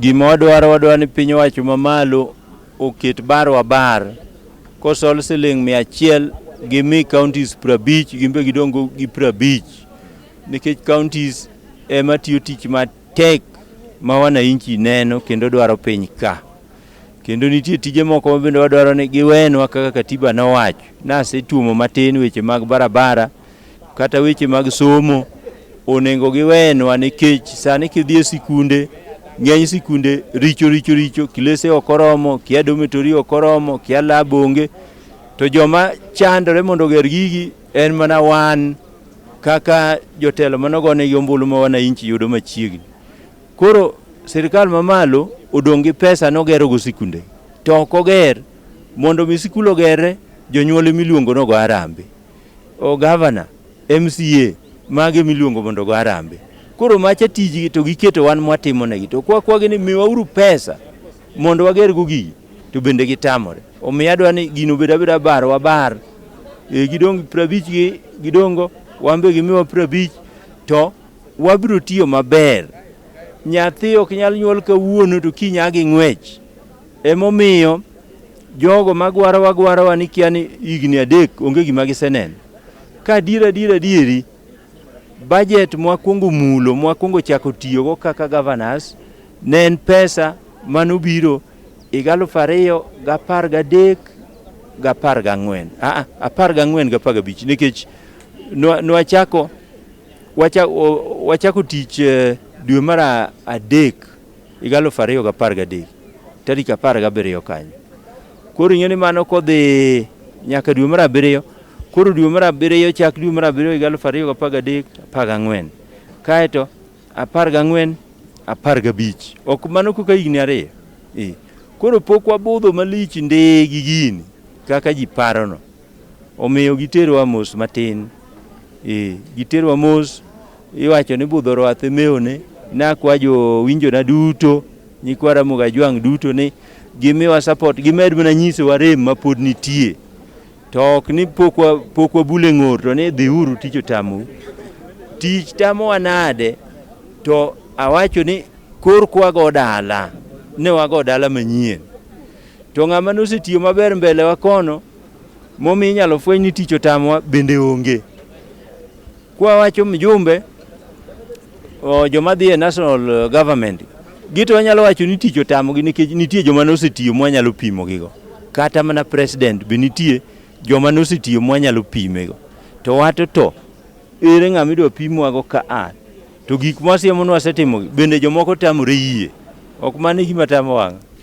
Gima wadwaro wadwaro ni piny owacho mamalo oket bar wa bar kosol siling' mia achiel gimi counties prabich gin be gidong' go gi prabich nikech counties ema tiyo tich matek ma wananchi neno kendo dwaro piny ka kendo nitie tije moko ma bende wadwaro ni giwenwa kaka katiba nowacho nasetuomo matin weche mag barabara kata weche mag somo onego giwenwa nikech sani kidhi e sikunde ng'eny sikunde richo richo richo kilese ok oromo kia dometori ok oromo kia lab onge to joma chandore mondo oger gigi en mana wan kaka jotelo manogonegi ombulu ma wananchi yudo machiegni koro sirikal mamalo odong' gi pesa nogerogo sikunde to ok oger mondo mi sikul ogerre jonyuol emiluongo nogo arambe O gavana, MCA, mage miluongo mondo go arambe. Koro macha tijgi to giketo wan mwatimo negi. To kwa kwagi ni miwa uru pesa mondo wager go gigi to bende gitamore. Omiyo adwa ni gino bed abeda bar wa bar. E, gidong prabich gi gidongo wambe gimiwa prabich to wabiro tiyo maber. Nyathi ok nyal nyuol kawuono to kinya gi ng'wech. Emomiyo jogo magwaro wagwarowa ni kia ni higni adek onge gima giseneno. Ka adier adier adieri, bajet mwakwongo mulo mwakwongo chako tiyogo kaka governors ne en pesa manobiro higa aluf ariyo gapar gadek gapar gang'wen aa apar gang'wen gapar gabich nikech nwa- nwachako wacha- o- wachako tich eh, dwe mar a- adek higa alufu ariyo gi apar gadek tarik apar gabiriyo kanyo. Koro ing'e ni mano kodhi nyaka dwe mar abiriyo, koro dwe mar abiriyo chak dwe mar abiriyo higa alufu ariyo gi apar gadek apar gang'wen kaeto apar gang'wen apar gabich ok mano koka higni ariyo eh. Koro pok wabudho malich ndee gi gini kaka ji parono. Omiyo giterowa mos matin. Ee, giterowa mos. Iwacho ni budho rwath emewone. Nakwa jowinjona duto, nyikwa Ramogi Ajwang' duto ni gimiwa support, gimed mana nyisowa rem mapod nitie. To ok ni pok wa, pok wabule ng'or to ni dhiuru tich otamou. Tich tamowa nade? To awacho ni kor kwago dala, ne wago dala manyien. To ng'ama nosetiyo maber mbele wa kono, momi inyalo fweny ni tich otamwa bende onge. Kwa wacho mjumbe joma dhi e national eh, government gito wanyalo wacho ni tich otamogi nikech nitie joma nosetiyo mwanyalo pimo gigo. Kata mana president be nitie joma nosetiyo mwanyalo pimego. To wato to ere ng'ama idwa pimwago ka a to gik mwasiemonwa asetimogi bende jomoko tamore yie ok mano e gima tamo wang'a.